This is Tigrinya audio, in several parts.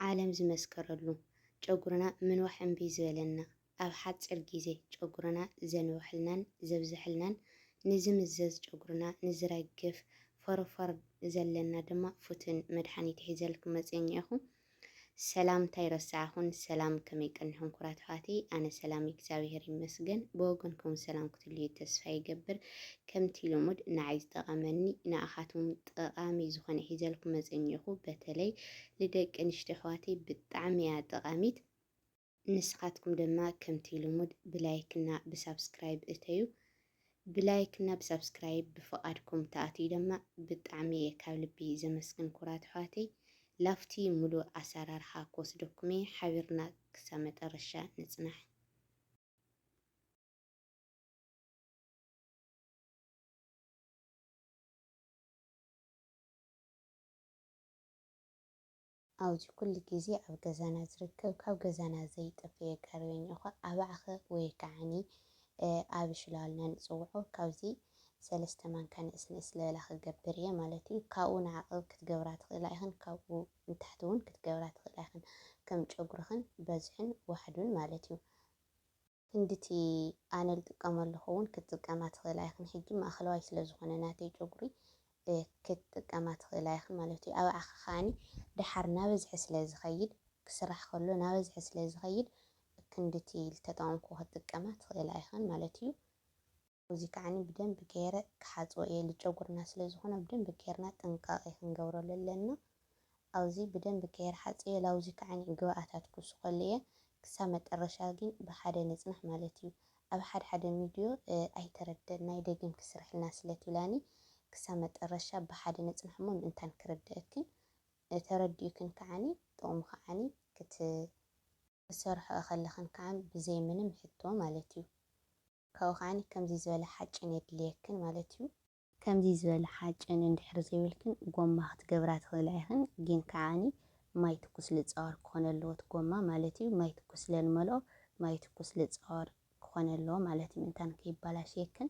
ዓለም ዝመስከረሉ ጨጉርና ምንዋሕ እምቢ ዝበለና ኣብ ሓጺር ግዜ ጨጉርና ዘንወሐልናን ዘብዘሐልናን ንዝምዘዝ ጨጉርና ንዝረግፍ ፎሮፎር ዘለና ድማ ፉትን መድሓኒት ሒዘልኩም መጽየ እኒኤኹ ሰላምታ ኣይረሳዕኹን ሰላም ከመይ ቀኒኹም ኩራት ኣሕዋተይ ኣነ ሰላም እግዚኣብሄር ይመስገን ብወገንኩም ሰላም ክትልዩ ተስፋ ይገብር ከምቲ ልሙድ ንዓይ ዝጠቐመኒ ንኣኻትኩም ጠቃሚ ዝኮነ ሒዘልኩም መጽ እኒኦኩ በተለይ ልደቂ ኣንሽትዮ ኣሕዋተይ ብጣዕሚ እያ ጠቃሚት ንስካትኩም ደማ ከምቲ ልሙድ ብላይክ እና ብሳብስክራይብ እተዩ ብላይክ እና ብሳብስክራይብ ብፍቃድኩም ተኣትዩ ደማ ብጣዕሚ እየ ካብ ልቢ ዘመስግን ኩራት ኣሕዋተይ ላፍቲ ሙሉእ ኣሰራርሓ ክወስደኩም እየ ሓቢርና ክሳብ መጠረሻ ንጽናሕ። ኣውዚ ኩሉ ግዜ ኣብ ገዛና ዝርከብ ካብ ገዛና ዘይጠፈኤ ጋርቤኛ እዃ ኣባዕኸ ወይ ከዓኒ ኣብ ሽላልና ንጽውዖ ካብዚ ሰለስተ ማንካ ንእስ ንእስ ለበላ ክገብር እየ ማለት እዩ። ካብኡ ንዓቕብ ክትገብራ ትኽእላ ኢኽን ካብኡ ንታሕቲ እውን ክትገብራ ትኽእላ ኢኽን ከም ጨጉርኽን በዝሕን ዋሕዱን ማለት እዩ። ክንድቲ ኣነ ልጥቀመሉ ኸውን ክትጥቀማ ትኽእላ ኢኽን ሕጂ ማእኸለዋይ ስለ ዝኾነ ናተይ ጨጉሪ ክትጥቀማ ትኽእላ ኢኽን ማለት እዩ ኣባዕኸ ከዓኒ ደሓር ናበዝሐ ስለ ዝኸይድ ክስራሕ ከሎ ናበዝሐ ስለ ዝኸይድ ክንድቲ ልተጠቐምኩ ክትጥቀማ ትኽእላ ኢኽን ማለት እዩ እዚ ከዓኒ ብደንቢ ገይረ ክሓጽቦ እየ ልጨጉርና ስለ ዝኮነ ብደንቢ ገይርና ጥንቃቄ ክንገብረሉ ኣለና ኣውዚ ብደንቢ ገይረ ሓጽየ ላውዚ ከዓኒ ግብኣታት ክውስኮሉ እየ ክሳብ መጠረሻ ጊን ብሓደ ንጽናሕ ማለት እዩ ኣብ ሓደ ሓደ ሚድዮ ኣይተረደእናይ ደጊምኪ ስርሕልና ስለ ትብላኒ ክሳብ መጠረሻ ብሓደ ንጽናሕ እሞ ምእንታን ክርደእክን ተረዲኡክን ከዓኒ ጥቅሙ ከዓኒ ክት ክትሰርሖ እኸለኽን ከኣ ብዘይ ምንም ሕቶ ማለት እዩ። ካብኡ ከኣ ከምዚ ዝበለ ሓጭን የድልየክን ማለት እዩ። ከምዚ ዝበለ ሓጭን እንድሕር ዘይብልክን ጎማ ክትገብራ ትኽእላ ኢኽን፣ ግን ከኣ ማይ ትኩስ ልጻወር ክኾነ ኣለዎ እቲ ጎማ ማለት እዩ። ማይ ትኩስ ስለ ንመልኦ ማይ ትኩስ ልጻወር ክኾነ ኣለዎ ማለት እዩ ምእንታን ከይባላሸየክን።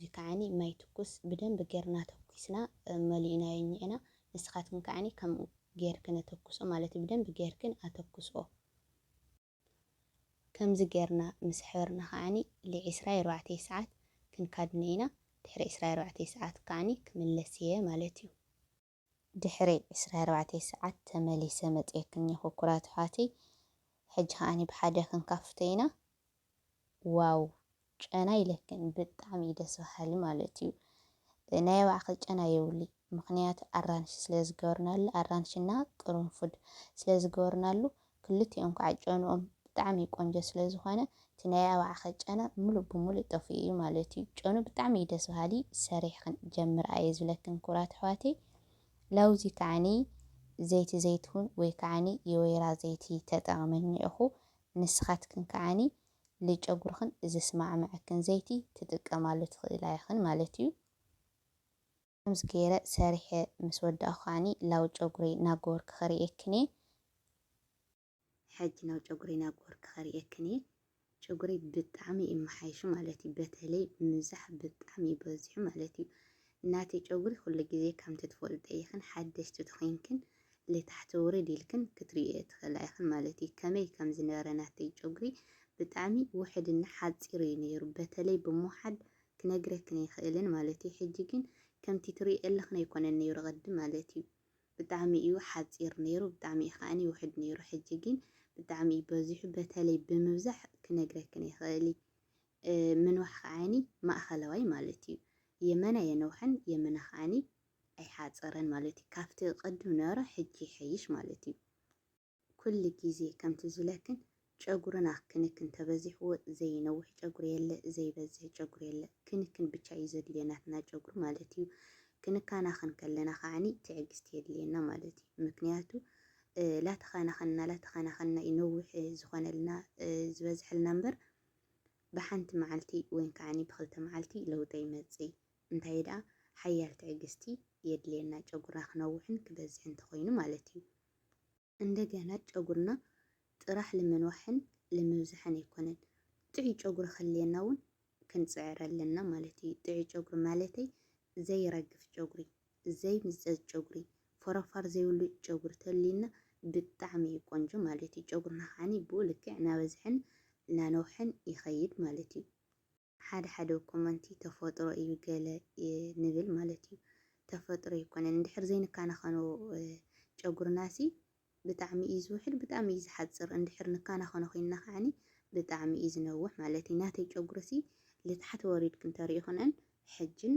ሕጂ ከዓኒ ማይ ትኩስ ብደንቢ ጌርና ተኩስና መሊእናዮ እኒኤና ንስካትክን ከዓኒ ከምኡ ጌርክን ኣተኩስኦ ማለት እዩ ብደንቢ ጌርክን ኣተኩስኦ ከምዚ ጌርና ምስ ሕበርና ከዓኒ ል ዕስራ ኣርባዕተ ሰዓት ክንካድኖ ኢና ድሕሪ ዕስራ ኣርባዕተ ሰዓት ከዓኒ ክምለስ እየ ማለት እዩ። ድሕሪ ዕስራ ኣርባዕተ ሰዓት ተመሊሰ መጽየክን'የ ኩኩራት ኣሕዋተይ ሕጂ ከኣ ብሓደ ክንካፍቶ ኢና ዋው ጨና ኢለክን ብጣዕሚ እዩ ደስ በሃሊ ማለት እዩ ናይ ኣባዕከ ጨና የብሉይ ምክንያቱ ኣራንሺ ስለ ዝገበርናሉ ኣራንሺ እና ቅርንፉድ ስለ ዝገበርናሉ ክልቲኦም ካዓ ጨንኦም ብጣዕሚ ቆንጆ ስለ ዝኮነ እቲ ናይ ኣባዕከ ጨና ሙሉእ ብሙሉእ ጠፊኡ እዩ ማለት እዩ ጨኑ ብጣዕሚ እዩ ደስ በሃሊ ሰሪሕክን ጀምርኣ እየ ዝብለክን ክብራት ኣሕዋተይ ላውዚ ካዓኒ ዘይቲ ዘይትሁን ወይ ካዓኒ የወይራ ዘይቲ ተጠቅሚ እኒኦኩ ንስካትክን ካዓኒ ልጨጉርክን ዝስማዕመዐክን ዘይቲ ትጥቀማሉ ትክእላ ኢክን ማለት እዩ። ከምዚ ገይረ ሰሪሐ ምስ ወዳእኩ ከዓኒ ላው ጨጉረይ ናጎወርክ ከርእየክን እየ። ሕጂ ላው ጨጉረይ ናጎወርክ ከርእየክን እየ። ጨጉረይ ብጣዕሚ እዩ መሓይሹ ማለት እዩ በተለይ ምብዛሕ ብጣዕሚ እዩ በዚሑ ማለት እዩ። ናተይ ጨጉሪ ኩሉ ግዜ ከምቲ ትፈልጥኦ ኢክን ሓደሽቲ ተኮይንክን ልታሕቲ ውርድ ኢልክን ክትርእይኦ ትክእላ ኢክን ማለት እዩ። ከመይ ከም ዝነበረ ናተይ ጨጉሪ ብጣዕሚ ውሕድና ሓጺር እዩ ነይሩ በተለይ ብምውሓድ ክነግረክን ኣይክእልን ማለት እዩ ሕጂ ግን ከምቲ ትሪእየለኽን ኣይኮነን ነይሩ ቅድም ማለት እዩ ብጣዕሚ እዩ ሓጺር ነይሩ ብጣዕሚ እዩ ከኣ ውሕድ ነይሩ ሕጂ ግን ብጣዕሚ እዩ በዚሑ በተለይ ብምብዛሕ ክነግረክን ኣይክእል ምንዋሕ ከዓኒ ማእኸለዋይ ማለት እዩ የመን ኣየነውሐን የመና ከዓኒ ኣይሓጸረን ማለት እዩ ካብቲ ቅድም ነበረ ሕጂ ይሐይሽ ማለት እዩ ኩሉ ግዜ ከምቲ ዝብለክን ጨጉርና ክንክን ተበዚሕዎ ዘይነውሕ ጨጉሪ የለ ዘይበዝሕ ጨጉሪ የለ ክንክን ብቻ እዩ ዘድልዮ ናትና ጨጉሪ ማለት እዩ ክንካናኸን ከለና ከዓኒ ትዕግስቲ የድልየና ማለት እዩ ምክንያቱ ላተኸናኸንና ላተኸናኸንና እዩ ነውሕ ዝኾነልና ዝበዝሐልና እምበር ብሓንቲ መዓልቲ ወይን ከዓኒ ብክልተ መዓልቲ ለውጢ ይመፅእ እንታይ ደኣ ሓያል ትዕግስቲ የድልየና ጨጉርና ክነውሕን ክበዝሕን ተኾይኑ ማለት እዩ እንደገና ጨጉርና ጥራሕ ልምንዋሕን ልምብዛሕን ኣይኮነን ጥዑይ ጨጉሪ ክህልየና ውን ክንጽዕር ኣለና ማለት እዩ ጥዑይ ጨጉሪ ማለተይ ዘይረግፍ ጨጉሪ ዘይምዘዝ ጨጉሪ ፎረፋር ዘይብሉ ጨጉሪ ተልዩና ብጣዕሚ እዩ ቆንጆ ማለት እዩ ጨጉርና ከዓኒ ብኡ ልክዕ ናበዝሐን ናነውሐን ይኸይድ ማለት እዩ። ሓደ ሓደ ኮመንቲ ተፈጥሮ እዩ ገለ ንብል ማለት እዩ ተፈጥሮ ኣይኮነን እንድሕር ዘይንካናኸኖ ጨጉርናሲ ብጣዕሚ እዩ ዝውሕድ ብጣዕሚ እዩ ዝሓጽር እንድሕር ንካናኸኖ ኮይንና ከዓኒ ብጣዕሚ እዩ ዝነውሕ ማለት እዩ ናተይ ጨጉርሲ ልታሕት ወሪድክን ተሪኢኽንእን ሕጅን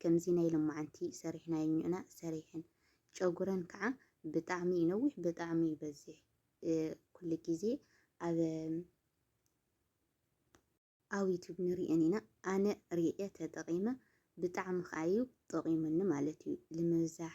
ከምዚ ናይ ሎማዓንቲ ሰሪሕናዮ ኝእና ሰሪሐን ጨጉረን ካዓ ብጣዕሚ እዩ ነዊሕ ብጣዕሚ እዩ በዚሕ ኩሉ ግዜ ኣብ ኣብ ዩቱብ ንሪኤን ኢና ኣነ ሪኤ ተጠቂመ ብጣዕሚ ካዓ እዩ ጠቂሙኒ ማለት እዩ ልምብዛሕ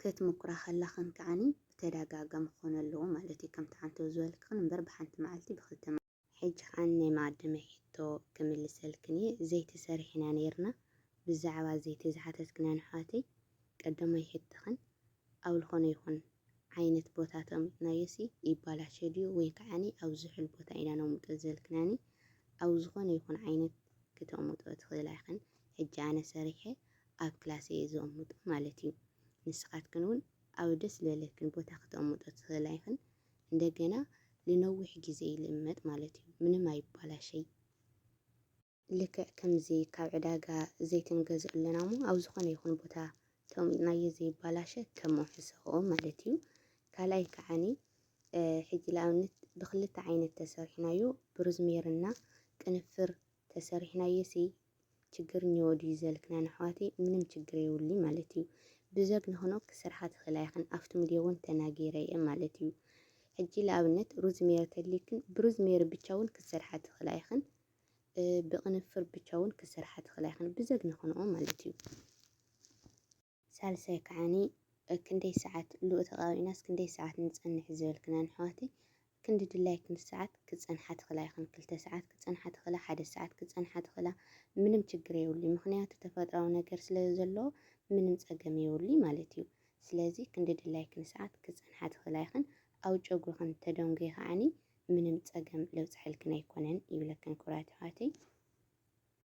ክትምኩራ ከለኽን ከኣኒ ብተዳጋጋሚ ክኾን ኣለዎ ማለት እዩ ከምቲ ዓንተው ዝበልክኽን እምበር ብሓንቲ መዓልቲ ብክልተ መዓልቲ። ሕጂ ከኣኒ ናይ መቀደመይ ሕቶ ክምልሰልክን እየ ዘይቲ ሰሪሕና ነይርና ብዛዕባ ዘይቲ ዝሓተትክናን ኣሕዋተይ ቀደሞይ ሕቶኽን ኣብ ልኾነ ይኹን ዓይነት ቦታ ተቅሚጥናዮሲ ይባላሾ ድዩ ወይ ከኣኒ ኣብ ዝሑል ቦታ ኢና ነቅምጦ ዝበልክናኒ ኣብ ዝኾነ ይኹን ዓይነት ክተቅምጥኦ ትኽእላ ኢኽን ሕጂ ኣነ ሰሪሐ ኣብ ክላስ እየ ዘቕምጦ ማለት እዩ። ንስኻትክን እውን ኣብ ደስ ዝበለክን ቦታ ክተቕምጦ ትኽእላ ኢኽን። እንደገና ንነዊሕ ግዜ ይልመጥ ማለት እዩ፣ ምንም ኣይባላሸይ። ልክዕ ከምዚ ካብ ዕዳጋ ዘይቲ ንገዝእ ኣለና እሞ ኣብ ዝኾነ ይኹን ቦታ ተቕሚጥናዮ ዘይባላሸ ከም መውሕሰኽኦ ማለት እዩ። ካልኣይ ከዓኒ ሕጂ ንኣብነት ብክልተ ዓይነት ተሰሪሕናዮ ብሩዝሜርና ቅንፍር ተሰሪሕናዮሲ ችግር እኒዎ ድዩ ዘልክናን ኣሕዋተይ ምንም ችግር የውልይ ማለት እዩ ብዘግ ንክኖ ክስርሓ ትክእላ ይክን ኣፍቲ ምድዮ እውን ተናጊረ እየ ማለት እዩ ሕጂ ለኣብነት ሩዝ ሜሪ ተሊክን ብሩዝ ሜሪ ብቻ እውን ክስርሓ ትክእላ ይክን ብቅንፍር ብቻ እውን ክስርሓ ትክእላ ይክን ብዘግ ንክኖ ማለት እዩ። ሳልሳይ ከዓኒ ክንደይ ሰዓት ሉኡ ተቃቢእናስ ክንደይ ሰዓት ንጸንሕ ዝበልክናን ኣሕዋተይ ክንዲ ድላይክን ሰዓት ክትጸንሓ ትክላ ኢክን ክልተ ሰዓት ክትጸንሓ ትክላ ሓደ ሰዓት ክትጸንሓ ትክላ ምንም ችግር የብሉይ ምክንያቱ ተፈጥራዊ ነገር ስለ ዘለዎ ምንም ጸገም የብሉይ ማለት እዩ ስለዚ ክንዲ ድላይክን ሰዓት ክትጸንሓ ትክላ ኢክን ኣብ ጨጉርክን ተደንጉይ ከዓኒ ምንም ጸገም ለብጸሐልክን ኣይኮነን ይብለክን ክብራት ኣሕዋተይ።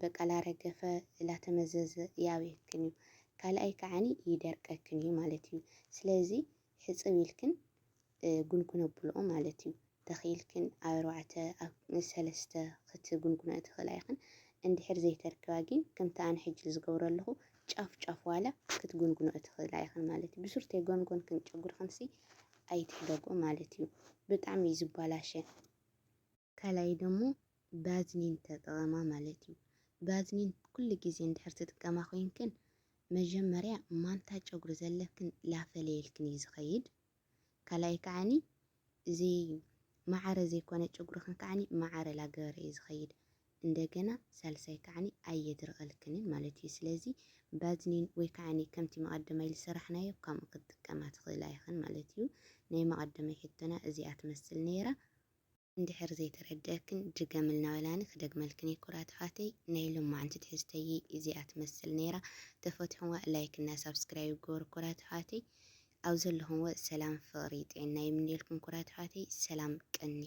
በቀላ ረገፈ ላተመዘዘ ይኣብየክን እዩ ካልኣይ ከዓኒ ይደርቀክን እዩ ማለት እዩ ስለዚ ሕጽብ ኢልክን ጉንጉን ኣብልኦ ማለት እዩ ተኺኢልክን ኣብ ኣርባዕተ ኣብ ሰለስተ ክትጉንጉንኦ ትኽእላ ኢኽን እንድሕር ዘይተርክባ ጊን ከምቲ ኣነ ሕጂ ዝገብሮ ኣለኹ ጫፍ ጫፍ ዋላ ክትጉንጉንኦ ትኽእላ ኢኽን ማለት እዩ ብሱር ተይጎንጎንክን ጨጉርኽንሲ ኣይትሕደግኦ ማለት እዩ ብጣዕሚ እዩ ዝባላሸ ካልኣይ ደሞ ባዝሊን ተጠቐማ ማለት እዩ። ባዝሊን ኩሉ ግዜ እንድሕር ትጥቀማ ኮይንክን መጀመርያ ማንታ ጨጉሪ ዘለክን ላፈለየልክን እዩ ዝኸይድ። ካልኣይ ከዓኒ እዚ ማዕረ ዘይኮነ ጨጉርኽን ከዓኒ ማዕረ ላገበረ እዩ ዝኸይድ። እንደገና ሳልሳይ ከዓኒ ኣየድርቐልክንን ማለት እዩ። ስለዚ ባዝሊን ወይ ከዓኒ ከምቲ መቐደማይ ዝሰራሕናዮ ከምኡ ክትጥቀማ ትኽእላ ኢኽን ማለት እዩ። ናይ መቐደማይ ሕቶና እዚኣ ትመስል ነይራ። እንድሕር ዘይተረደኣክን ድገምልና በላኒ ክደግመልክን እየ ኩራታዓተይ ናይ ሎማዓንቲ ትሕዝተይይ እዚኣ ትመስል ነይራ ተፈትሑዋ ላይክ እና ሳብስክራይብ ግበሩ ኩራታዓተይ ኣብ ዘለኹምዎ ሰላም ፍቅሪ ጥዒና ይምነየልኩም ኩራታዓተይ ሰላም ቀንዩ።